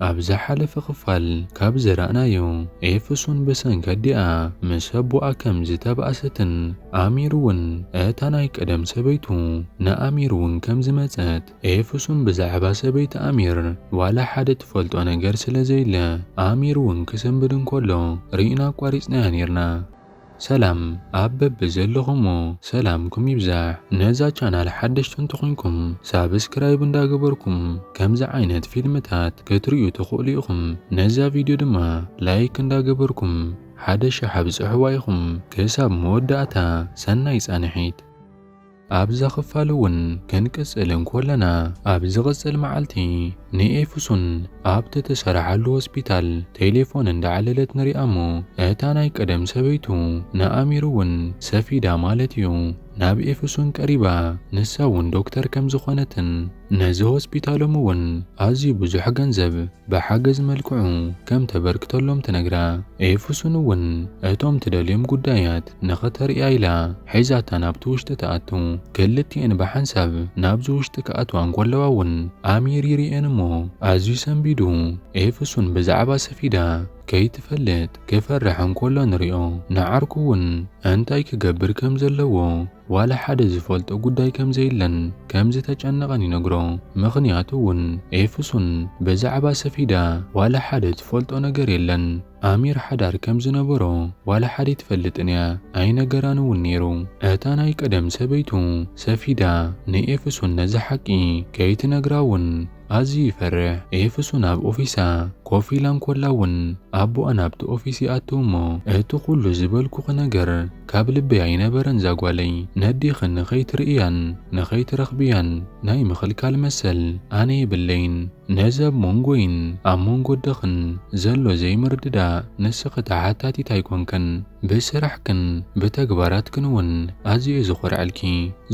ኣብ ዝሓለፈ ክፋል ካብ ዘረእናዮ ኤፍሱን ብሰንኪ ኣዲኣ ምስ ኣቦኣ ከም ዝተባእሰትን ኣሚር እውን እታ ናይ ቀደም ሰበይቱ ንኣሚር እውን ከም ዝመጸት ኤፍሱን ብዛዕባ ሰበይቲ ኣሚር ዋላ ሓደ ትፈልጦ ነገር ስለ ዘየለ ኣሚር እውን ክስንብድ እንከሎ ርኢና ኣቋሪጽናያ ኔርና። ሰላም ኣብ በቢ ዘለኹሞ ሰላምኩም ይብዛሕ ነዛ ቻናል ሓደሽቲ እንተኾይንኩም ሳብስክራይብ እንዳ ገበርኩም ከምዚ ዓይነት ፊልምታት ክትሪኡ ትኽእሉ ኢኹም ነዛ ቪድዮ ድማ ላይክ እንዳ ገበርኩም ሓደ ሽሕ ኣብጽሕዋ ኢኹም ክሳብ መወዳእታ ሰናይ ጻንሒት። ኣብዛ ኽፋል እውን ክንቅጽል እንኮለና፣ ኣብ ዝቕጽል መዓልቲ ንኤፍሱን ኣብቲ እትሰርሓሉ ሆስፒታል ቴሌፎን እንዳዓለለት ንሪኣ እሞ እታ ናይ ቀደም ሰበይቱ ንኣሚር እውን ሰፊዳ ማለት እዩ ናብ ኤፍሱን ቀሪባ ንሳ እውን ዶክተር ከምዝኾነትን ነዚ ሆስፒታሎም እውን ኣዝዩ ብዙሕ ገንዘብ ብሓገዝ መልክዑ ከም ተበርክተሎም ትነግራ። ኤፍሱን እውን እቶም ትደልዮም ጉዳያት ንኸተርእያ ኢላ ሒዛታ ናብቲ ውሽጢ ትኣቱ። ክልቲኤን ብሓንሳብ ናብዚ ውሽጢ ክኣትዋ እንከለዋ እውን ኣሚር ይርእየን እሞ ኣዝዩ ሰንቢዱ ኤፍሱን ብዛዕባ ሰፊዳ ከይትፈልጥ ክፈርሕ እንከሎ ንሪኦ። ንዓርኩ እውን እንታይ ክገብር ከም ዘለዎ ዋላ ሓደ ዝፈልጦ ጉዳይ ከም ዘየለን ከም ዝተጨነቐን ይነግሮ። ምኽንያቱ እውን ኤፍሱን ብዛዕባ ሰፊዳ ዋላ ሓደ ትፈልጦ ነገር የለን። ኣሚር ሓዳር ከም ዝነበሮ ዋላ ሓደ ኣይትፈልጥን እያ፣ ኣይነገራን እውን ነይሩ። እታ ናይ ቀደም ሰበይቱ ሰፊዳ ንኤፍሱን ነዚ ሓቂ ከይትነግራ እውን ኣዝዩ ይፈርሕ። ኤፍሱን ኣብ ኦፊሳ ኮፍ ኢላ እንኮላ እውን ኣቦኣ ናብቲ ኦፊስ ይኣቱ እሞ እቲ ኩሉ ዝበልኩኺ ነገር ካብ ልበይ ኣይነበረን እዛ ጓለይ ነዴኺ ንኸይትርእያን ንኸይትረኽብያን ናይ ምኽልካል መሰል ኣነ የብለይን ነዚ ኣብ ሞንጎይን ኣብ ሞንጎ ኣደኽን ዘሎ ዘይምርድዳእ ንስኺ ተሓታቲት ኣይኮንክን ብስራሕክን ብተግባራትክን እውን ኣዝየ እየ ዝኾርዐልኪ።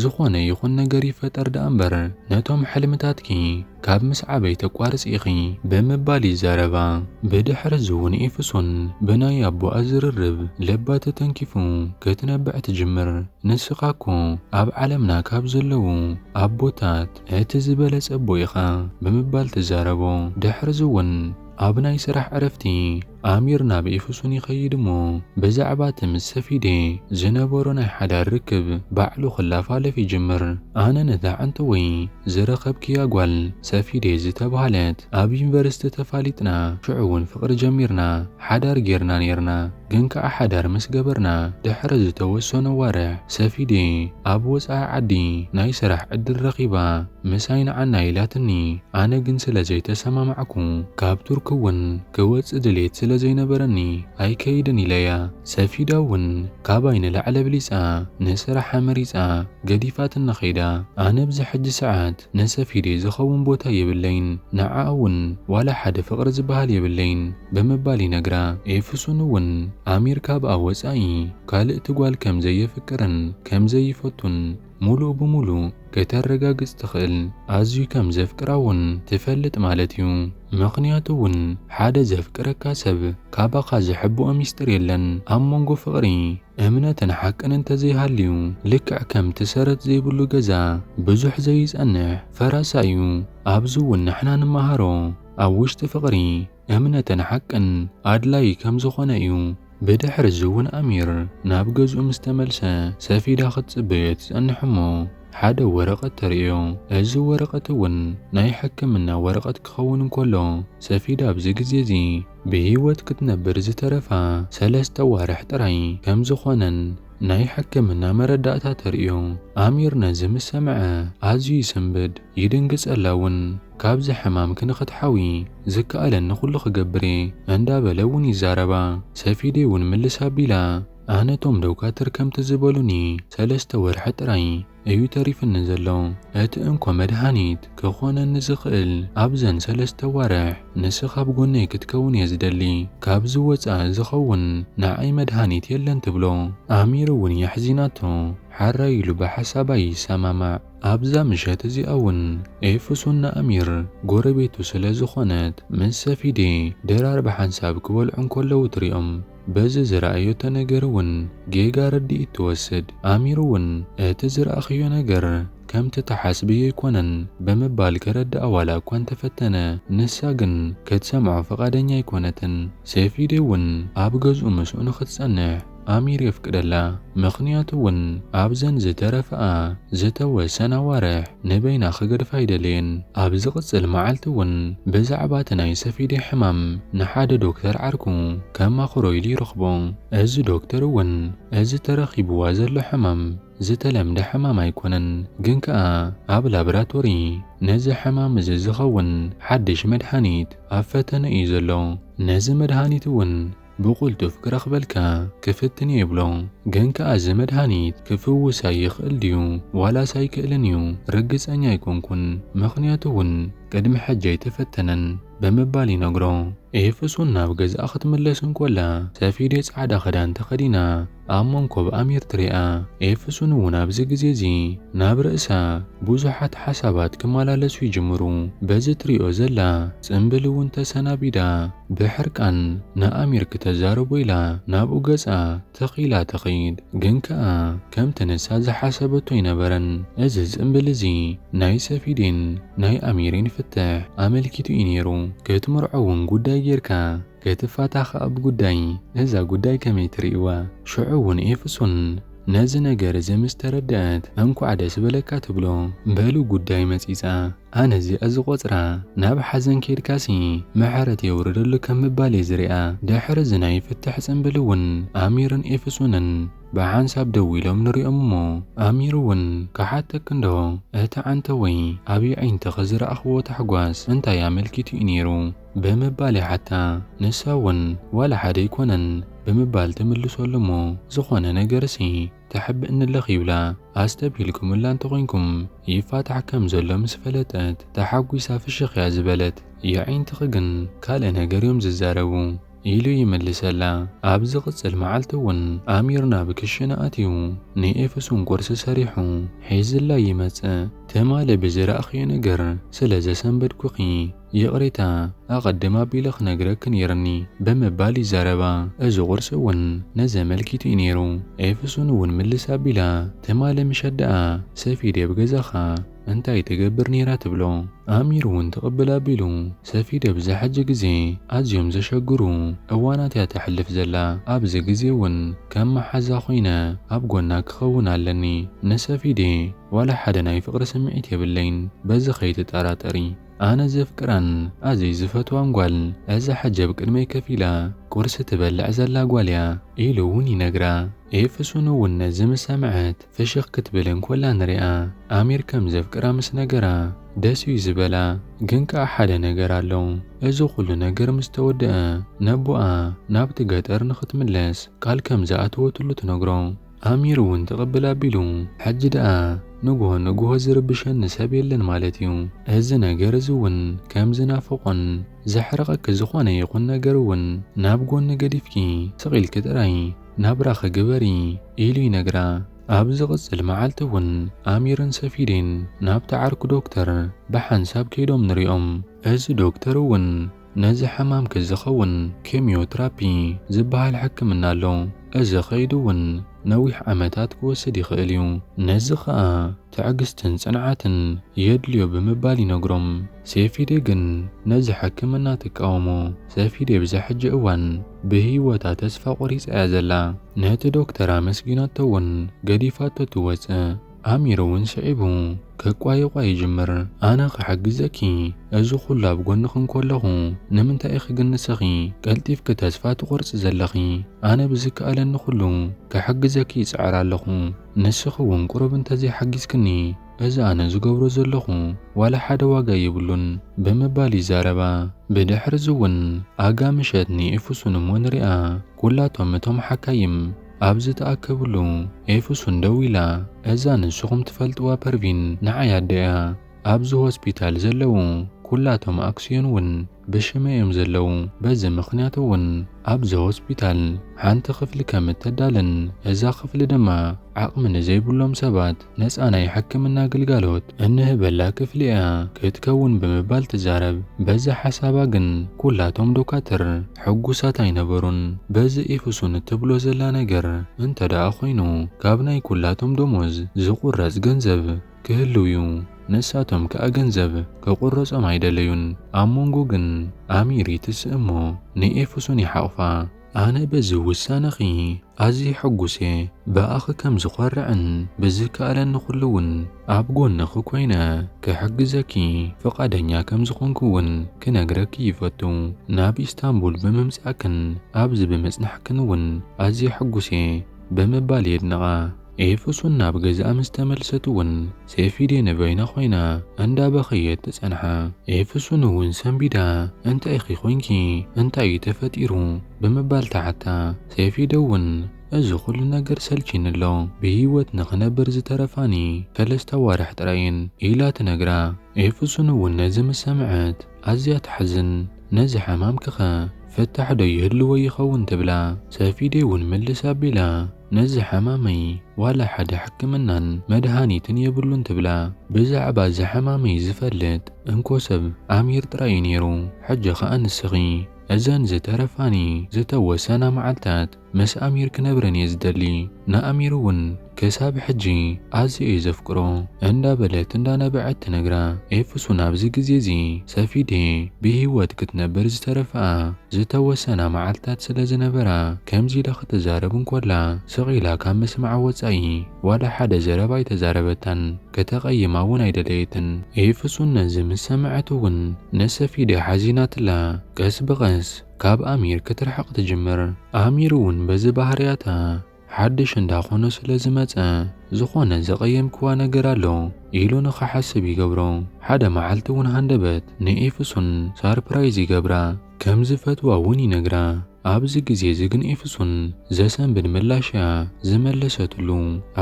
ዝኾነ ይኹን ነገር ይፈጠር ደኣ እምበር ነቶም ሕልምታትኪ ካብ ምስዓበይ ተቋርጺ ኢኺ ብምባል ይዛረባ። ብድሕሪ እዚ እውን ኤፍሶን ብናይ ኣቦኣ ዝርርብ ልባ ተተንኪፉ ክትነብዕ ትጅምር። ንስኻ እኮ ኣብ ዓለምና ካብ ዘለዉ ኣቦታት እቲ ዝበለጸ ኣቦ ኢኻ ብምባል ትዛረቦ። ድሕሪ እዚ እውን ኣብ ናይ ስራሕ ዕረፍቲ፣ ኣሚር ናብ ኤፌሶን ይኸይድ እሞ ብዛዕባ እቲ ምስ ሰፊዴ ዝነበሮ ናይ ሓዳር ርክብ ባዕሉ ክላፋለፍ ይጅምር። ኣነ ነታ ዓንተወይ ዝረኸብክያ ጓል ሰፊዴ ዝተብሃለት ኣብ ዩኒቨርሲቲ ተፋሊጥና ሽዑ እውን ፍቕሪ ጀሚርና ሓዳር ጌርና ኔርና። ግን ከኣ ሓዳር ምስ ገበርና ድሕሪ ዝተወሰኑ ኣዋርሕ ሰፊዴ ኣብ ወጻኢ ዓዲ ናይ ስራሕ ዕድል ረኺባ ምሳይ ንዓና ኢላትኒ ኣነ ግን ስለ ዘይተሰማማዕኩ ካብ ቱርኪ እውን ክወጽእ ድሌት ስለ ዘይነበረኒ ኣይከይድን ኢለያ። ሰፊዳ እውን ካባይ ንላዕሊ ኣብሊጻ ንስራሓ መሪጻ ገዲፋትና ከይዳ። ኣነ ኣብዚ ሕጂ ሰዓት ንሰፊደይ ዝኸውን ቦታ የብለይን፣ ንዓኣ እውን ዋላ ሓደ ፍቕሪ ዝበሃል የብለይን ብምባል ይነግራ። ኤፍሱን እውን ኣሚር ካብኣ ወጻኢ ካልእቲ ጓል ከም ዘየፍቅርን ከም ዘይፈቱን፣ ሙሉእ ብሙሉእ ከተረጋግፅ ትኽእል ኣዝዩ ከም ዘፍቅራ ውን ትፈልጥ ማለት እዩ ምኽንያቱ ውን ሓደ ዘፍቅረካ ሰብ ካባኻ ዝሕብኦ ሚስጥር የለን ኣብ መንጎ ፍቕሪ እምነትን ሓቅን እንተዘይሃልዩ ልክዕ ከምቲ ሰረት ዘይብሉ ገዛ ብዙሕ ዘይፀንሕ ፈራሳ እዩ ኣብዚ ውን ንሕና ንመሃሮ ኣብ ውሽጢ ፍቕሪ እምነትን ሓቅን ኣድላዪ ከም ዝዀነ እዩ። ብድሕሪ እዚ እውን ኣሚር ናብ ገዝኡ ምስ ተመልሰ፣ ሰፊዳ ክትጽበዮ ትጸንሕ እሞ ሓደ ወረቐት ተርእዮ። እዚ ወረቐት እውን ናይ ሕክምና ወረቐት ክኸውን እንከሎ፣ ሰፊዳ ኣብዚ ግዜ እዚ ብህይወት ክትነብር ዝተረፋ ሰለስተ ኣዋርሕ ጥራይ ከም ዝዀነን፣ ናይ ሕክምና መረዳእታ ተርእዮ። ኣሚር ነዚ ምስ ሰምዐ ኣዝዩ ይስንብድ፣ ይድንግጸላ እውን። ካብዚ ሕማም ክንክትሓዊ ዝከኣለኒ ኩሉ ክገብር እየ እንዳበለ እውን ይዛረባ። ሰፊዴ እውን ምልስ ኣቢላ ኣነ እቶም ዶካትር ከምቲ ዝበሉኒ ሰለስተ ወርሒ ጥራይ እዩ ተሪፍኒ ዘሎ። እቲ እንኮ መድሃኒት ክኾነኒ ዝኽእል ኣብዘን ሰለስተ ኣዋርሕ ንስኻ ኣብ ጎነይ ክትከውን እየ ዝደሊ። ካብዚ ወጻኢ ዝኸውን ንዓይ መድሃኒት የለን ትብሎ። ኣሚር እውን የሕዚናቶ ሓራይ ኢሉ ብሓሳባ ይሰማማዕ። ኣብዛ ምሸት እዚኣ እውን ኤፍሱን ንኣሚር ጎረቤቱ ስለ ዝኾነት ምስ ሰፊዴ ድራር ብሓንሳብ ክበልዑ እንከለዉ ትሪኦም። በዚ ዝረኣዮቶ ነገር እውን ጌጋ ርድኢት ትወስድ። ኣሚር እውን እቲ ዝረኣኽዮ ነገር ከምቲ ትሓስብዮ ኣይኮነን ብምባል ከረድኣ ዋላ እኳ እንተፈተነ፣ ንሳ ግን ክትሰምዖ ፍቓደኛ ኣይኮነትን። ሰይፊዴ እውን ኣብ ገዝኡ ምስኡ ንኽትጸንሕ ኣሚር የፍቅደላ። ምኽንያቱ እውን ኣብዘን ዝተረፈኣ ዝተወሰና ኣዋርሕ፣ ንበይና ክገድፋ ኣይደለየን። ኣብ ዝቕጽል መዓልቲ እውን ብዛዕባ እቲ ናይ ሰፊዴ ሕማም ንሓደ ዶክተር ዓርኩ ከማኽሮ ኢሉ ይረኽቦ። እዚ ዶክተር እውን እዚ ተረኺብዋ ዘሎ ሕማም ዝተለምደ ሕማም ኣይኮነን፣ ግን ከኣ ኣብ ላብራቶሪ ነዚ ሕማም እዚ ዝኸውን ሓድሽ መድሃኒት ኣብ ፈተነ እዩ ዘሎ። ነዚ መድሃኒት እውን ብቕልጡፍ ክረኽበልካ ክፍትን እየ ይብሎ። ግን ከኣ እዚ መድሃኒት ክፍውሰይ ይኽእል ድዩ ዋላስ ኣይክእልን እዩ ርግጸኛ ኣይኮንኩን፣ ምኽንያቱ እውን ቅድሚ ሕጂ ኣይተፈተነን ብምባል ይነግሮ። ኤፍሱን ናብ ገዝኣ ክትምለስ እንኮላ፣ ሰፊዴ ጻዕዳ ክዳን ተኸዲና፣ ኣብ መንኮ ብኣም ኤርትርያ ኤፍሱን እውን ኣብዚ ግዜ እዚ ናብ ርእሳ ብዙሓት ሓሳባት ክመላለሱ ይጅምሩ። በዚ ትሪኦ ዘላ ጽንብል እውን ተሰናቢዳ ብሕርቃን ንኣሚር ክተዛርቦ ኢላ ናብኡ ገጻ ተኺላ ትኺድ። ግን ከኣ ከምቲ ንሳ ዝሓሰበቶ ኣይነበረን። እዚ ጽንብል እዚ ናይ ሰፊዴን ናይ ኣሚሬን ፍትሕ ኣመልኪቱ እዩ ነይሩ። ክትምርዖ እውን ጉዳይ ገይርካ። ከይትፋታ ከኣ ብጉዳይ እዛ ጉዳይ ከመይ ትርእይዋ ሽዑ ውን ኤፍሶን ነዚ ነገር እዚ ምስ ተረደኣት እንኳዕ ደስ በለካ ትብሎ በሉ ጉዳይ መጺጻ ኣነ እዚኣ ዝቆጽራ ናብ ሓዘን ኬድካሲ ምሕረት የውርደሉ ከም ምባል እየ ዝሪኣ ድሕሪ እዚ ናይ ፍትሕ ጽንብል ውን ኣሚርን ኤፍሶንን ብሓንሳብ ደው ኢሎም ንሪኦም እሞ ኣሚር ውን ክሓተኪ እንዶ እቲ ዓንተወይ ኣብ የዒንትኺ ዝረኣኽዎ ታሕጓስ እንታይ ኣመልኪቱ እዩ ኔሩ ብምባል ይሓታ። ንሳ እውን ዋላ ሓደ ኣይኮነን ብምባል ትምልሰሉ እሞ ዝኾነ ነገርሲ ተሕብእ ንለኽ ይብላ። ኣስተብሂልኩምላ እንተኾይንኩም ይፋታሕ ከም ዘሎ ምስ ፈለጠት ተሓጒሳ ፍሽኽ እያ ዝበለት። የዒንትኺ ግን ካልእ ነገር እዮም ዝዛረቡ። ኢሉ ይምልሰላ። ኣብ ዝቕጽል መዓልቲ እውን ኣሚር ናብ ክሽነ ኣትዩ ንኤፍሱን ቁርሲ ሰሪሑ ሒዝላ ይመጽእ። ትማሊ ብዝረኣኽዮ ነገር ስለ ዘሰንበድኩኺ ይቕሬታ ኣቐድም ኣቢለ ክነግረኪ ነይሩኒ ብምባል ይዛረባ። እዚ ቁርሲ እውን ነዚ ኣመልኪቱ እዩ ነይሩ። ኤፍሱን እውን ምልስ ኣቢላ ትማሊ ምሸት ደኣ ሰፊዴ ኣብ ገዛኻ እንታይ ትገብር ነይራ ትብሎ ኣሚር እውን ትቕብል ኣቢሉ ሰፊደ ብዛ ሕጂ ግዜ ኣዝዮም ዘሸግሩ እዋናት እያ ተሕልፍ ዘላ ኣብዚ ግዜ እውን ከም መሓዛ ኮይነ ኣብ ጎና ክኸውን ኣለኒ ንሰፊዴ ዋላ ሓደ ናይ ፍቕሪ ስምዒት የብለይን በዚ ከይትጠራጠሪ ኣነ ዘፍቅራን ኣዝይ ዝፈትዋን ጓል እዛ ሕጂ ኣብ ቅድመይ ከፍ ኢላ ቁርሲ ትበልዕ ዘላ ጓል እያ ኢሉ እውን ይነግራ ኤፍሱን እውን ነዚ ምስ ሰምዐት ፍሽኽ ክትብል እንኮላ ንሪኣ ኣሚር ከም ዘፍቅራ ምስ ነገራ ደስ እዩ ዝበላ ግን ከኣ ሓደ ነገር ኣሎ እዚ ኩሉ ነገር ምስ ተወደኣ ነቦኣ ናብቲ ገጠር ንኽትምለስ ቃል ከም ዝኣተወትሉ ትነግሮ ኣሚር እውን ትቕብል ኣቢሉ ሕጂ ደኣ ንግሆ ንግሆ ዝርብሸኒ ሰብ የለን ማለት እዩ እዚ ነገር እዚ እውን ከም ዝናፍቖን ዘሕርቐኪ ዝኾነ ይኹን ነገር እውን ናብ ጎኒ ገዲፍኪ ስቕ ኢልኪ ጥራይ ናብራኺ ግበሪ ኢሉ ይነግራ። ኣብ ዝቕጽል መዓልቲ እውን ኣሚርን ሰፊዴን ናብቲ ዓርኩ ዶክተር ብሓንሳብ ከይዶም ንሪኦም። እዚ ዶክተር እውን ነዚ ሕማምኪ ዝኸውን ኬምዮ ትራፒ ዝበሃል ሕክምና ኣሎ። እዚ ከይዲ እውን ነዊሕ ዓመታት ክወስድ ይኽእል እዩ። ነዚ ከኣ ትዕግስትን ጽንዓትን የድልዮ ብምባል ይነግሮም። ሴፊዴ ግን ነዚ ሕክምና ትቃወሞ። ሰፊዴ ብዛ ሕጂ እዋን ብህይወታ ተስፋ ቆሪጻ እያ ዘላ። ነቲ ዶክተር ኣመስጊናቶ ውን ገዲፋቶ ትወጽእ። ኣሚር ውን ስዒቡ ክቋየቋ ይጅምር። ኣነ ክሕግዘኪ እዚ ኩሉ ኣብ ጎንኺ እንኮለኹ ንምንታይ ኢኺ ግን ንስኺ ቀልጢፍኪ ተስፋ ትቆርጺ ዘለኺ? ኣነ ብዝከኣለኒ ኩሉ ክሕግዘኪ ይጽዕር ኣለኹ ንስኺ ውን ቁሩብ እንተዘይ ሓጊዝክኒ እዚ ኣነ ዝገብሮ ዘለኹ ዋላ ሓደ ዋጋ የብሉን ብምባል ይዛረባ። ብድሕርዚ'ውን ኣጋ ምሸት ንኤፍሱን እሞ ንርኣ ኩላቶም እቶም ሓካይም ኣብ ዝተኣከብሉ ኤፍሱን ደው ኢላ እዛ ንስኹም ትፈልጥዋ ፐርቪን ንዓይ ኣደ'ያ። ኣብዚ ሆስፒታል ዘለዉ ኩላቶም ኣክስዮን'ውን ብሽመይ እዮም ዘለዉ። በዚ ምኽንያት'ውን ኣብዛ ሆስፒታል ሓንቲ ክፍሊ ከም እተዳልን እዛ ክፍሊ ድማ ዓቕሚ ንዘይብሎም ሰባት ነፃ ናይ ሕክምና ግልጋሎት እንህበላ ክፍሊ እያ ክትከውን ብምባል ትዛረብ። በዚ ሓሳባ ግን ኩላቶም ዶካትር ሕጉሳት ኣይነበሩን። በዚ ኢፍሱን እትብሎ ዘላ ነገር እንተደኣ ኮይኑ ካብ ናይ ኩላቶም ደሞዝ ዝቁረፅ ገንዘብ ክህልው እዩ። ንሳቶም ከኣ ገንዘብ ክቁረፆም ኣይደለዩን። ኣብ ሞንጎ ግን ኣሚር ይትስእ እሞ ንኢፍሱን ይሓቑፋ። ኣነ በዚ ውሳነኺ ኣዝየ ሕጉስ'የ፣ ብኣኺ ከም ዝዀርዕን ብዝከኣለኒ ዅሉ'ውን ኣብ ጐንኺ ኰይነ ክሕግዘኪ ፍቓደኛ ከም ዝዀንኩ'ውን ክነግረኪ ይፈቱ። ናብ ኢስታንቡል ብምምጻእክን ኣብዚ ብምጽናሕክን'ውን ኣዝየ ሕጉስ'የ። ብምባል የድንቓ። ኤፌሶን ናብ ገዝኣ ምስ ተመልሰት እውን ሴፊዴ ንበይና ዀይና እንዳ በኸየት ትጸንሓ። ኤፌሶን እውን ሰንቢዳ እንታይ ኢኺ ዄንኪ? እንታይ እዩ ተፈጢሩ? ብምባል ትሓታ። ሴፊዴ እውን እዚ ዅሉ ነገር ሰልችዩኒ ኣሎ፣ ብህይወት ንኽነብር ዝተረፋኒ ሰለስተ ኣዋርሕ ጥራይ እየን ኢላ ትነግራ። ኤፌሶን እውን ነዚ ምስ ሰምዐት፣ ኣዝያ ተሕዝን ነዚ ሓማምኪ ከ ፍታሕ ዶ ይህልዎ ይከውን ትብላ ሰፊዴ ውን ምልስ ኣቢላ ነዚ ሓማመይ ዋላ ሓደ ሕክምናን መድሃኒትን የብሉን ትብላ ብዛዕባ እዚ ሓማመይ ዝፈልጥ እንኮ ሰብ ኣሚር ጥራይ ዩ ኔሩ ሕጂ ከኣ ንስኪ እዘን ዝተረፋኒ ዝተወሰና መዓልታት ምስ ኣሚር ክነብረን እየ ዝደሊ ንኣሚር እውን ክሳብ ሕጂ ኣዝየ እየ ዘፍቅሮ እንዳበለት እንዳነበዐት ትነግራ። ኤፍሱን ኣብዚ ግዜ እዚ ሰፊዴ ብሂወት ክትነብር ዝተረፈኣ ዝተወሰና መዓልትታት ስለ ዝነበራ ከምዚ ኢላ ክትዛረብ እንኮላ ስቅ ኢላ ካብ ምስማዓ ወጻኢ ዋላ ሓደ ዘረባ ኣይተዛረበታን ከተቀይማ እውን ኣይደለየትን። ኤፍሱን ነዚ ምስ ሰመዐት እውን ንሰፊዴ ሓዚናትላ ቀስ ብቀስ ካብ ኣሚር ክትርሕቕ ትጅምር። ኣሚር እውን በዚ ባህርያታ ሓድሽ እንዳ ኾነ ስለ ዝመጸ ዝኾነ ዘቐየምክዋ ነገር ኣሎ ኢሉ ንኽሓስብ ይገብሮ። ሓደ መዓልቲ እውን ሃንደበት ንኤፍሱን ሳርፕራይዝ ይገብራ። ከም ዝፈትዋ እውን ይነግራ። ኣብዚ ግዜ እዚ ግን ኤፍሱን ዘሰንብድ ምላሽ እያ ዝመለሰትሉ።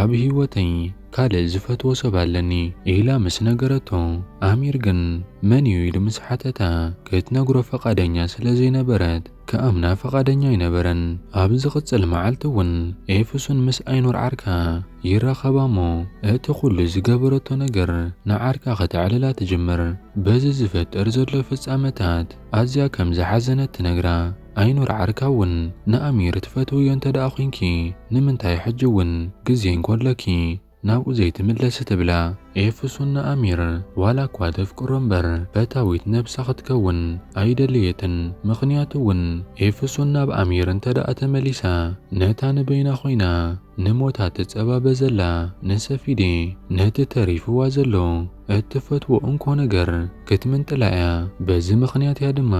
ኣብ ህይወተይ! ካልእ ዝፈትዎ ሰብ ኣለኒ ኢላ ምስ ነገረቶ፣ ኣሚር ግን መን'ዩ ኢሉ ምስ ሓተታ፣ ክትነግሮ ፍቓደኛ ስለ ዘይነበረት ክኣምና ፍቓደኛ ኣይነበረን። ኣብ ዝቕጽል መዓልቲ'ውን ኤፍሱን ምስ ኣይኑር ዓርካ ይራኸባ'ሞ እቲ ኹሉ ዝገበረቶ ነገር ንዓርካ ከተዕልላ ትጅምር። በዚ ዝፍጠር ዘሎ ፍጻመታት ኣዝያ ከም ዝሓዘነት ትነግራ። ኣይኑር ዓርካ ውን ንኣሚር ትፈትውዮ እንተድኣ ኮንኪ ንምንታይ ሕጂ ውን ግዜ እንኮለኪ ናብኡ ዘይትምለሲ ትብላ ኤፍሱን ንኣሚር ዋላ እኳ ተፍቅሮ እምበር ፈታዊት ነብሳ ክትከውን ኣይደለየትን ምክንያቱ ውን ኤፍሱን ናብ ኣሚር እንተድኣ ተመሊሳ ነታ ንበይና ኮይና ንሞታ ትጸባበ ዘላ ንሰፊዴ ነቲ ተሪፍዋ ዘሎ እትፈትዎ እንኮ ነገር ክትምንጥላ እያ። በዚ ምኽንያት እያ ድማ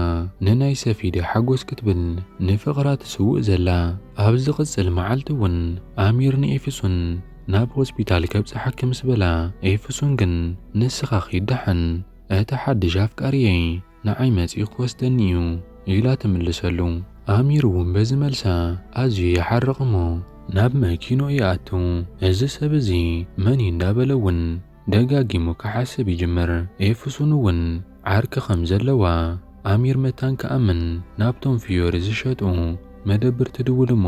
ንናይ ሰፊደ ሓጎስ ክትብል ንፍቕራ ትስውእ ዘላ። ኣብ ዝቕጽል መዓልቲ እውን ኣሚር ንኤፍሱን ናብ ሆስፒታል ከብጽሓኪ ምስ በላ፣ ኤፍሱን ግን ንስኻ ኺድ ደሓን፣ እቲ ሓድሽ ኣፍቃሪየይ ንዓይ መጺኡ ክወስደኒ እዩ ኢላ ትምልሰሉ። ኣሚር እውን በዚ መልሳ ኣዝዩ ይሓርቕ እሞ ናብ መኪንኡ ይኣቱ። እዚ ሰብ እዚ መን እዩ እንዳበለ እውን ደጋጊሙ ክሓስብ ይጅምር፣ ኤፍሱን እውን ዓርኪ ከም ዘለዋ ኣሚር መታን ክኣምን ናብቶም ፍዮሪ ዝሸጡ መደብር ትድውል እሞ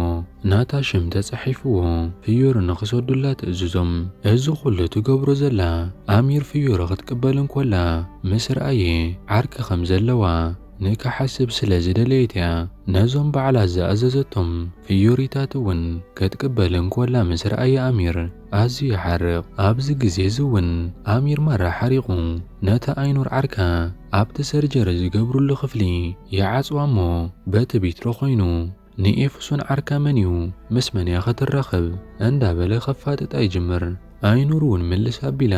ናታ ሽም ተጻሒፍዎ ፍዮሪ ንክሰዱላ ትእዝዞም፣ እዚ ኩሉ ትገብሮ ዘላ ኣሚር ፍዮሪ ክትቅበል እንኮላ ምስ ርኣየ ዓርኪ ከም ዘለዋ ንክሓስብ ስለ ዝደለየት እያ፣ ነዞም ባዕላ ዝኣዘዘቶም ፍዮሪታት እውን ክትቅበል እንኮላ ምስ ርኣየ ኣሚር። ኣዝዩ ይሓርቕ። ኣብዚ ግዜ እዚ እውን ኣሚር ማራ ሓሪቑ ነታ ኣይኑር ዓርካ ኣብቲ ሰርጀሪ ዝገብርሉ ክፍሊ ይዓጽዋ እሞ በቲ ቢትሮ ኮይኑ ንኤፍሱን ዓርካ መን እዩ ምስ መን እያ ክትራኸብ እንዳበለ ከፋጥጣ ይጅምር። ኣይኑር እውን ምልስ ኣቢላ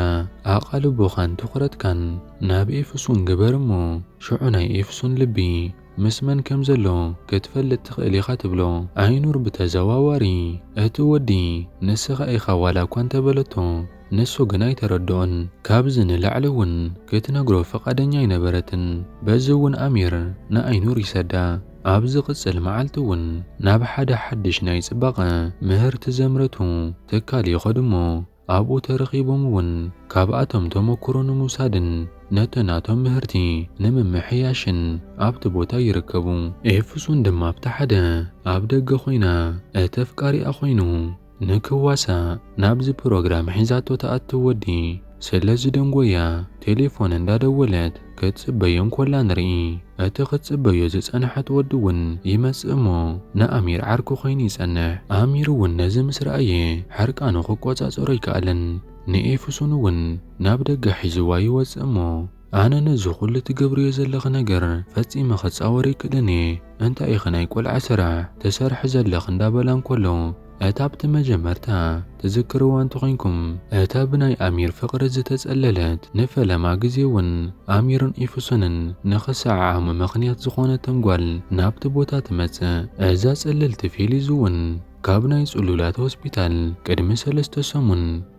ኣቓልቦኻን ትኹረትካን ናብ ኤፍሱን ግበር እሞ ሽዑ ናይ ኤፍሱን ልቢ ምስ መን ከም ዘሎ ክትፈልጥ ትኽእል ኢኻ ትብሎ። ኣይኑር ብተዘዋዋሪ እቲ ወዲ ንስኻ ኢኻ ዋላ እኳ እንተበለቶ ንሱ ግን ኣይተረድኦን። ካብዚ ንላዕሊ እውን ክትነግሮ ፍቓደኛ ኣይነበረትን። በዚ እውን ኣሚር ንኣይኑር ይሰዳ። ኣብ ዝቕጽል መዓልቲ እውን ናብ ሓደ ሓድሽ ናይ ጽባቐ ምህርቲ ዘምረቱ ትካል ይኸዱ እሞ ኣብኡ ተረኺቦም እውን ካብኣቶም ተመኩሮ ንምውሳድን ነቲ ናቶም ምህርቲ ንምምሕያሽን ኣብቲ ቦታ ይርከቡ። ኤፍሱን ድማ ኣብቲ ሓደ ኣብ ደገ ኮይና እቲ ኣፍቃሪኣ ኮይኑ ንክዋሳእ ናብዚ ፕሮግራም ሒዛቶ ትኣቱ ወዲ ስለዝደንጎያ ቴሌፎን እንዳደወለት ክትጽበዮ እንኮላ ንርኢ እቲ ክትጽበዮ ዝጸንሐት ወዲ ውን ይመጽእ እሞ ንኣሚር ዓርኩ ኮይኑ ይጸንሕ ኣሚር ውን ነዚ ምስ ረኣየ ሕርቃኑ ክቆጻጸሮ ኣይከኣለን ንኤፍሱን ውን ናብ ደገ ሒዝዋ ይወጽእ እሞ ኣነ ነዚ ኩሉ ትገብርዮ ዘለኺ ነገር ፈጺመ ክጻወር ኣይክእልን እየ እንታይ ኢኺ ናይ ቆልዓ ስራሕ ትሰርሒ ዘለኺ እንዳበላ እንኮሎ እታ ኣብቲ መጀመርታ ትዝክርዋ እንተኾይንኩም እታ ብናይ ኣሚር ፍቕሪ ዝተጸለለት ንፈለማ ግዜ ውን ኣሚርን ኤፍሱንን ንኽሰዓዓሙ ምኽንያት ዝኾነቶም ጓል ናብቲ ቦታ ትመጽእ። እዛ ጽልልቲ ፌሊዙ ውን ካብ ናይ ጽሉላት ሆስፒታል ቅድሚ ሰለስተ ሰሙን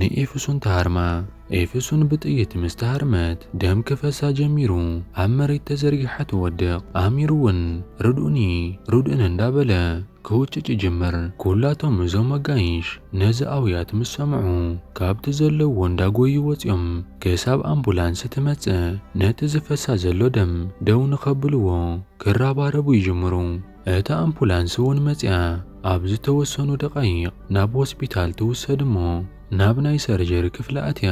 ንኤፍሱን ተሃርማ። ኤፍሱን ብጥይት ምስ ተሃርመት ደም ክፈሳ ጀሚሩ ኣብ መሬት ተዘርጊሓ ትወድቕ። ኣሚር እውን ርድኡኒ ርድኡኒ እንዳበለ ክውጭጭ ይጅምር። ኩላቶም እዞም ኣጋይሽ ነዚ ኣውያት ምስ ሰምዑ ካብቲ ዘለውዎ እንዳጎዩ ወጺኦም ክሳብ ኣምቡላንስ ትመጽእ ነቲ ዝፈሳ ዘሎ ደም ደው ንኸብልዎ ክራባረቡ ይጅምሩ። እታ ኣምፑላንስ እውን መጺኣ ኣብ ዝተወሰኑ ደቓይቕ ናብ ሆስፒታል ትውሰድ እሞ ናብ ናይ ሰርጀሪ ክፍሊ ኣትያ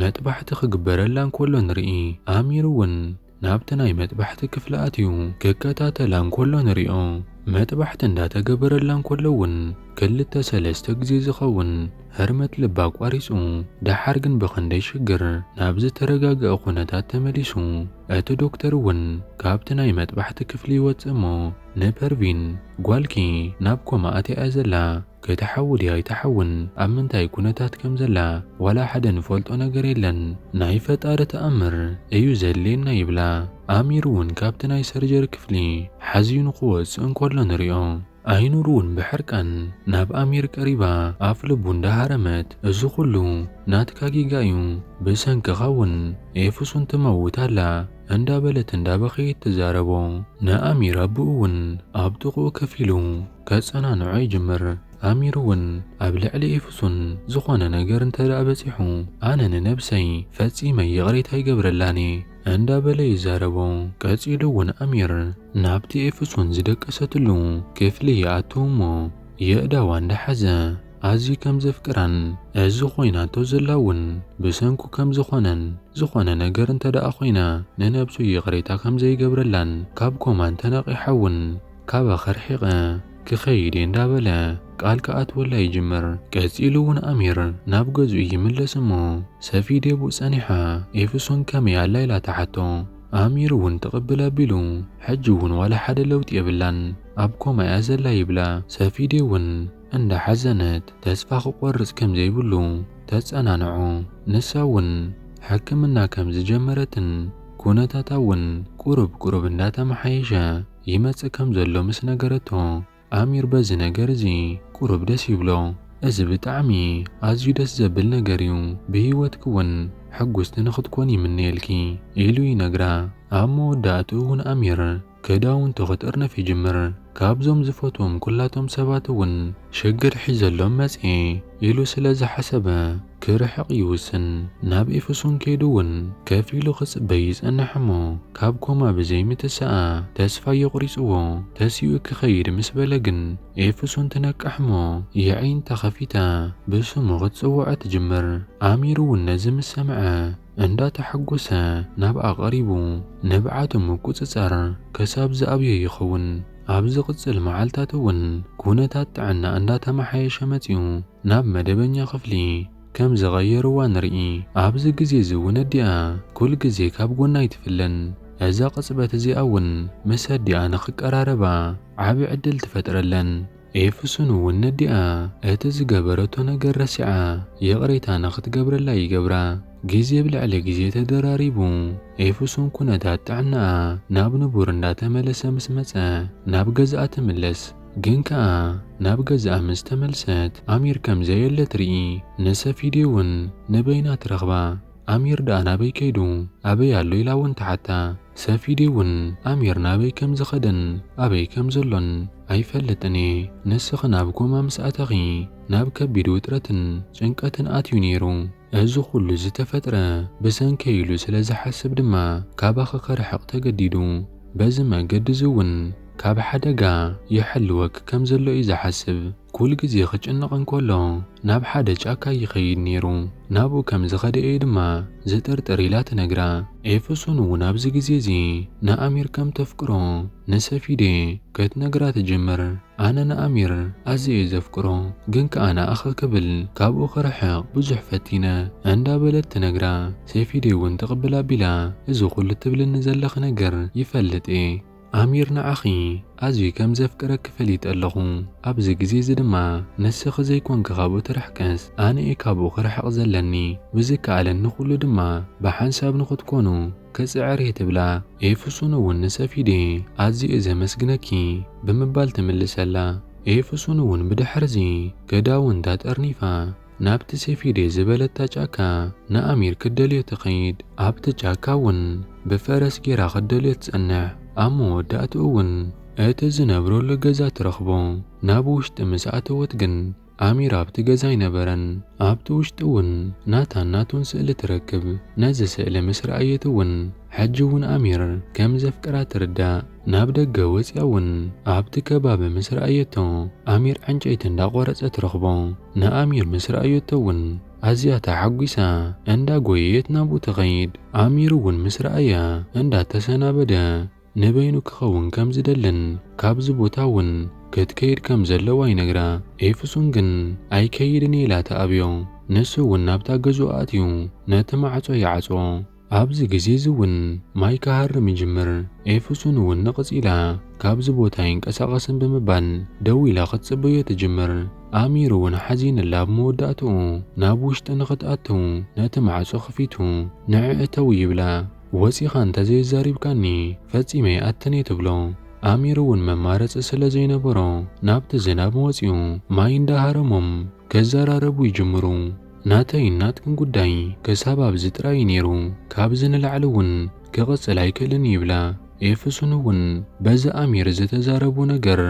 መጥባሕቲ ክግበረላ እንከሎ ንርኢ። ኣሚር እውን ናብቲ ናይ መጥባሕቲ ክፍሊ ኣትዩ ክከታተላ እንከሎ ንሪኦ። መጥባሕቲ እንዳተገበረላ እንከሎ እውን ክልተ ሰለስተ ግዜ ዝኸውን ህርመት ልባ ኣቋሪጹ። ደሓር ግን ብኽንደይ ሽግር ናብ ዝተረጋገኣ ኩነታት ተመሊሱ። እቲ ዶክተር እውን ካብቲ ናይ መጥባሕቲ ክፍሊ ይወጽእ እሞ ንፐርቪን፣ ጓልኪ ናብ ኮማ ኣትያ እያ ዘላ፣ ክትሓዊ ድያ ኣይትሓውን፣ ኣብ ምንታይ ኩነታት ከም ዘላ ዋላ ሓደ ንፈልጦ ነገር የለን፣ ናይ ፈጣሪ ተኣምር እዩ ዘድልየና ይብላ። ኣሚር እውን ካብቲ ናይ ሰርጀሪ ክፍሊ ሓዝዩ ንኽወጽእ እንከሎ ንሪኦ። ኣይኑር ውን ብሕርቃን ናብ ኣሚር ቀሪባ ኣፍ ልቡ እንዳሃረመት እዚ ኩሉ ናትካ ጌጋ ዩ ብሰንክኻ ውን ኤፍሱን ትመውት ኣላ እንዳበለት እንዳበኸየት ትዛረቦ ን ኣሚር ኣቡኡ ውን ኣብ ጥቁኡ ከፍ ኢሉ ከጸናንዖ ይጅምር ኣሚር ውን ኣብ ልዕሊ ኤፍሱን ዝኾነ ነገር እንተ በጺሑ ኣነ ንነብሰይ ፈጺመ ይቕሬታ ይገብረላን እየ እንዳበለ ይዛረቦ። ቀጺሉ እውን ኣሚር ናብቲ ኤፍሱን ዝደቀሰትሉ ክፍሊ ይኣቱ እሞ የእዳዋ እንዳሓዘ ኣዝዩ ከም ዘፍቅራን እዚ ኮይናቶ ዘላ እውን ብሰንኩ ከም ዝኾነን ዝኾነ ነገር እንተደኣ ኮይና ንነብሱ ይቕሬታ ከም ዘይገብረላን ካብ ኮማን ተነቒሓ እውን ካባኻ ርሒቐ ክኸይድ'የ እንዳበለ ቃል ክኣትወላ ይጅምር። ቀጺሉ'ውን ኣሚር ናብ ገዝኡ ይምለስ'ሞ ሰፊ ዴቡ ጸኒሓ ኤፍሶን ከመይ ኣላ ኢላ ትሓቶ። ኣሚር'ውን ትቕብል ኣቢሉ ሕጂ'ውን ዋላ ሓደ ለውጢ የብላን ኣብ ኮማ'ያ ዘላ ይብላ። ሰፊ ዴ'ውን እንዳሓዘነት ተስፋ ክቖርጽ ከም ዘይብሉ ተጸናንዖ። ንሳ'ውን ሕክምና ከም ዝጀመረትን ኩነታታ'ውን ቁሩብ ቁሩብ እንዳተመሓየሸ፣ ይመጽእ ከም ዘሎ ምስ ነገረቶ፣ ኣሚር በዚ ነገር እዚ ቁሩብ ደስ ይብሎ። እዚ ብጣዕሚ ኣዝዩ ደስ ዘብል ነገር እዩ፣ ብህይወትኪ እውን ሕጉስቲ ንኽትኮኒ ይምነየልኪ ኢሉ ይነግራ። ኣብ መወዳእትኡ እውን ኣሚር ክዳውንቱ ክጥርንፍ ይጅምር። ካብዞም ዝፈትዎም ኩላቶም ሰባት እውን ሽግር ሒዘሎም መጽየ። ኢሉ ስለ ዝሓሰበ ክርሕቕ ይውስን። ናብ ኤፌሶን ከይዱ'ውን ከፍ ኢሉ ክጽበይ ይጸንሕ እሞ ካብ ኮማ ብዘይ ምትሳኣ ተስፋ የቑሪጽዎ ተሲኡ ክኸይድ ምስ በለ ግን ኤፌሶን ትነቅሕ እሞ የዒንታ ከፊታ ብስሙ ክትጽውዖ ትጅምር። ኣሚር'ውን ነዚ ምስ ሰምዐ እንዳተሓጎሰ ናብኣ ቀሪቡ ንብዓቱ ምቁጽጻር ክሳብ ዝኣብዮ ይኸውን። ኣብ ዝቕጽል መዓልታት እውን ኩነታት ጥዕና እንዳተመሓየሸ መጺኡ ናብ መደበኛ ክፍሊ ከም ዝቐየርዋ ንርኢ። ኣብዚ ግዜ እዚ እውን ኣዲኣ ኩል ግዜ ካብ ጎና ኣይትፍለን። እዛ ቅጽበት እዚኣ እውን ምስ ኣዲኣ ንኽቀራረባ ዓቢ ዕድል ትፈጥረለን። ኤፍሱን እውን ነዲኣ እቲ ዝገበረቶ ነገር ረሲዓ ይቕሬታ ንኽትገብረላ ይገብራ። ግዜ ብልዕሊ ግዜ ተደራሪቡ ኤፍሱን ኩነታት ጥዕናኣ ናብ ንቡር እንዳተመለሰ ምስ መጸ ናብ ገዝኣ ትምለስ። ግን ከኣ ናብ ገዝኣ ምስ ተመልሰት ኣሚር ከም ዘየለ ትርኢ። ንሰፊዲ እውን ንበይና ትረኽባ። ኣሚር ደኣ ናበይ ከይዱ? ኣበይ ኣሎ ኢላ እውን ትሓታ። ሰፊዲ ውን ኣሚር ናበይ ከም ዝኸደን ኣበይ ከም ዘሎን ኣይፈልጥን እየ ንስኺ ናብ ኮማ ምስ ኣተኺ ናብ ከቢድ ውጥረትን ጭንቀትን ኣትዩ ኔሩ እዚ ኩሉ ዝተፈጥረ ብሰንከይ ኢሉ ስለ ዝሓስብ ድማ ካባኺ ክርሕቕ ተገዲዱ በዚ መገዲ እዚ ውን ካብ ሓደጋ ይሕልወኪ ከም ዘሎ እዩ ዝሓስብ ኩል ግዜ ክጭነቕ እንከሎ ናብ ሓደ ጫካ ይኸይድ ነይሩ። ናብኡ ከም ዝኸደ'የ ድማ ዝጥርጥር ኢላ ትነግራ። ኤፍሱን'ውን ኣብዚ ግዜ'ዚ ንኣሚር ከም ተፍቅሮ ንሰፊዴ ከትነግራ ትጅምር። ኣነ ንኣሚር ኣዝየ'የ ዘፍቅሮ፣ ግን ከኣ ንኣኺ ክብል ካብኡ ክርሕቕ ብዙሕ ፈቲነ። እንዳበለት ትነግራ። ሰፊዴ'ውን ትቕብል ኣቢላ እዚ ኩሉ ትብልኒ ዘለኺ ነገር ይፈልጥ'የ። ኣሚር ንዓኺ ኣዝዩ ከም ዘፍቅረኪ ፈሊጠ ኣለኹ፣ ኣብዚ ግዜ እዚ ድማ ንስኺ ዘይኮንኪ ካብኡ ትርሕቅስ ኣነ እየ ካብኡ ክርሕቕ ዘለኒ፣ ብዝከኣለኒ ኩሉ ድማ ብሓንሳብ ንኽትኮኑ ክጽዕር እየ ትብላ። ኤፍሱን እውን ንሰፊዴ ኣዝየ እየ ዘመስግነኪ ብምባል ትምልሰላ። ኤፍሱን እውን ብድሕርዚ ክዳውንታ ጠርኒፋ፣ ናብቲ ሴፊዴ ዝበለታ ጫካ ንኣሚር ክትደልዮ ትኸይድ። ኣብቲ ጫካ እውን ብፈረስ ገይራ ክትደልዮ ትጸንሕ። ኣብ መወዳእትኡ እውን እቲ ዝነብረሉ ገዛ ትረኽቦ። ናብ ውሽጢ ምስ ኣተወት ግን ኣሚር ኣብቲ ገዛ ኣይነበረን። ኣብቲ ውሽጢ እውን ናታን ናቱን ስእሊ ትረክብ። ነዚ ስእሊ ምስ ረኣየት እውን ሕጂ ውን ኣሚር ከም ዘፍቅራ ትርዳእ ናብ ደገ ወጽያ ውን ኣብቲ ከባቢ ምስ ረኣየቶ ኣሚር ዕንጨይቲ እንዳ ቆረጸ ትረኽቦ ንኣሚር ምስ ረኣየቶ ውን ኣዝያ ተሓጒሳ እንዳ ጎየየት ናብኡ ትኸይድ ኣሚር ውን ምስ ረኣያ እንዳ ተሰናበደ ንበይኑ ክኸውን ከም ዝደልን ካብዚ ቦታ ውን ክትከይድ ከም ዘለዋ ይነግራ ኤፍሱን ግን ኣይከይድን እየ ኢላ ትኣብዮ ንሱ ውን ናብታ ገዝኡ ኣእትዩ ነቲ ማዕጾ ይዓጽዎ። ኣብዚ ግዜ'ዚ እውን ማይ ክሃርም ይጅምር፣ ኤፍሱን እውን ንቕጽ ኢላ ካብዚ ቦታ ኣይንቀሳቐስን ብምባል ደው ኢላ ክትጽበዮ ትጅምር። ኣሚር እውን ሓዚንላ ኣብ መወዳእታኡ ናብ ውሽጢ ንኽትኣትው ነቲ ማዕጾ ክፊቱ ንዕ እተው ይብላ። ወጺኻ እንተ ዘየዛሪብካኒ ፈጺመ ኣይኣትን'የ ትብሎ። ኣሚር እውን መማረጺ ስለ ዘይነበሮ ናብቲ ዝናብ ወጺኡ ማይ እንዳ ሃረሞም ክዘራረቡ ይጅምሩ። ናተይን ናትክን ጉዳይ ክሳብ ኣብዚ ጥራይ እዩ ነይሩ፣ ካብዚ ንላዕሊ እውን ክቕጽል ኣይክእልን እዩ ይብላ። ኤፍሱን እውን በዚ ኣሚር ዝተዛረቦ ነገር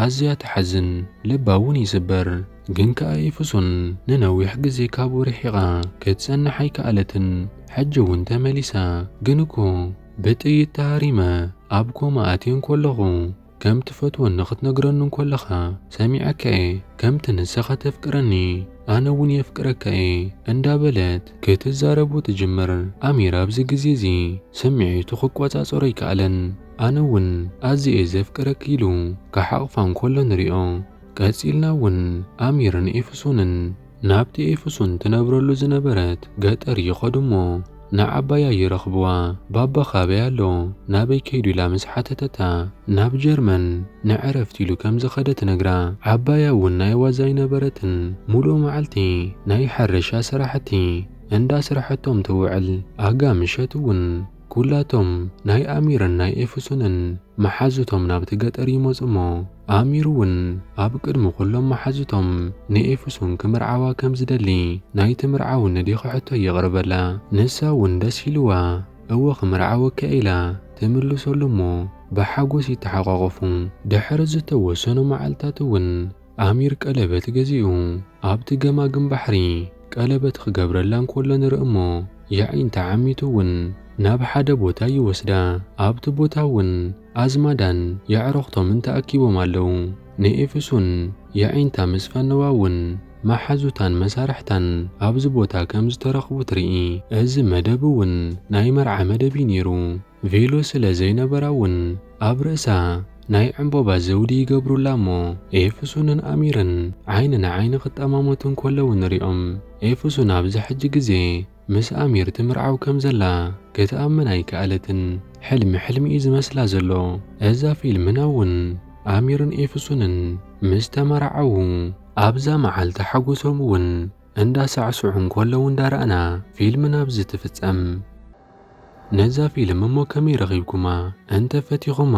ኣዝያ ትሓዝን፣ ልባ እውን ይስበር። ግን ከኣ ኤፍሱን ንነዊሕ ግዜ ካብኡ ርሒቓ ክትጸንሕ ኣይከኣለትን። ሕጂ እውን ተመሊሳ ግን እኮ ብጥይት ተሃሪመ ኣብ ኮማ ኣትየ እንከለኹ፣ ከም ትፈትወኒ ክትነግረኒ እንኮለኻ ሰሚዐካ እየ ከምቲ ንሰኻ ተፍቅረኒ ኣነ እውን የፍቅረካ እየ እንዳበለት ክትዛረቦ ትጅምር ኣሚር ኣብዚ ግዜ እዚ ስሚዒቱ ክቆጻጸሮ ኣይከኣለን ኣነ እውን ኣዝየ እየ ዘፍቅረኪ ኢሉ ክሓቕፋ እንኮሎ ንሪኦ ቀጺልና እውን ኣሚርን ኤፍሶንን ናብቲ ኤፍሱን ትነብረሉ ዝነበረት ገጠር ይኸዱ እሞ ንዓባያ ይረኽብዋ። ባባ ካበይ ኣሎ? ናበይ ከይዱ? ኢላ ምስ ሓተተታ፣ ናብ ጀርመን ንዕረፍቲ ኢሉ ከም ዝኸደ ትነግራ። ዓባያ እውን ናይ ዋዛ ኣይነበረትን። ሙሉእ መዓልቲ ናይ ሕርሻ ስራሕቲ እንዳስርሐቶም ትውዕል። ኣጋ ምሸት እውን። ኵላቶም ናይ ኣሚርን ናይ ኤፍሱንን መሓዙቶም ናብቲ ገጠር ይመጹ እሞ፣ ኣሚርውን ኣብ ቅድሚ ዅሎም መሓዙቶም ንኤፍሱን ኪምርዓዋ ከም ዚደሊ፣ ናይቲ ምርዓው ንዲ ኺሕቶ የቕርበላ። ንሳውን ደስ ኢልዋ፣ እወ ኽምርዓወኪ ኢላ ትምልሰሉ እሞ፣ ብሓጐስ ይተሓቛቖፉ። ድሕሪ ዝተወሰኑ መዓልትታትውን፣ ኣሚር ቀለበት ገዚኡ ኣብቲ ገማግም ባሕሪ ቀለበት ኽገብረላ እንከሎ ንርኢ እሞ የዒንታ ዓሚቱ እውን ናብ ሓደ ቦታ ይወስዳ። ኣብቲ ቦታ እውን ኣዝማዳን የዕሩኽቶምን ተኣኪቦም ኣለዉ። ንኤፍሱን የዒንታ ምስ ፈነዋ እውን መሓዙታን መሳርሕታን ኣብዚ ቦታ ከም ዝተረኽቡ ትርኢ። እዚ መደብ እውን ናይ መርዓ መደብ እዩ ነይሩ። ቬሎ ስለ ዘይነበራ'ውን ኣብ ርእሳ ናይ ዕምቦባ ዘውዲ ይገብሩላ እሞ ኤፍሱንን ኣሚርን ዓይኒ ንዓይኒ ክጠማመቱ እንከለዉ ንሪኦም። ኤፍሱን ኣብዚ ሕጂ ግዜ ምስ ኣሚር ትምርዓው ከም ዘላ ክትኣምን ኣይከኣለትን። ሕልሚ ሕልሚ'ዩ ዝመስላ ዘሎ። እዛ ፊልምና'ውን ኣሚርን ኤፍሱንን ምስ ተመራዓዉ ኣብዛ መዓልቲ ሓጎሶም'ውን እንዳሳዕስዑ እንከለዉ እንዳረኣና ፊልምና ኣብዚ ትፍጸም። ነዛ ፊልም እሞ ከመይ ረኺብኩማ እንተ ፈቲኹማ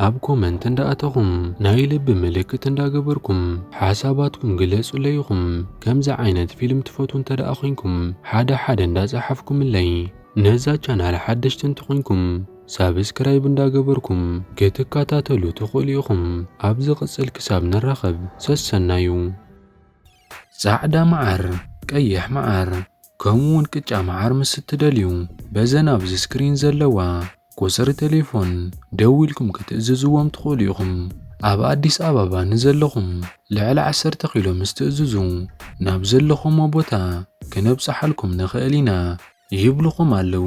ኣብ ኮመንት እንዳ ኣተኹም ናይ ልቢ ምልክት እንዳ ገበርኩም ሓሳባትኩም ግለጹለይ ኢኹም ከምዚ ዓይነት ፊልም ትፈትዉ እንተ ደኣ ኮንኩም ሓደ ሓደ እንዳ ጸሓፍኩምለይ ነዛ ቻናል ሓደሽቲ እንተ ኮንኩም ሳብስክራይብ እንዳ ገበርኩም ክትከታተሉ ትኽእሉ ኢኹም ኣብ ዝቕጽል ክሳብ ንራኸብ ሰሰናዩ። ጻዕዳ መዓር ቀይሕ መዓር ከምኡ ውን ቅጫ መዓር ምስ እትደልዩ በዘን ኣብዚ ስክሪን ዘለዋ ቁጽሪ ተሌፎን ደዊልኩም ክትእዝዝዎም ትኽእሉ ኢኹም። ኣብ ኣዲስ ኣባባ ንዘለኹም ልዕሊ ዓሰርተ ኪሎ ምስ ትእዝዙ ናብ ዘለኹሞ ቦታ ክነብጽሓልኩም ንኽእል ኢና ይብሉኹም ኣለዉ።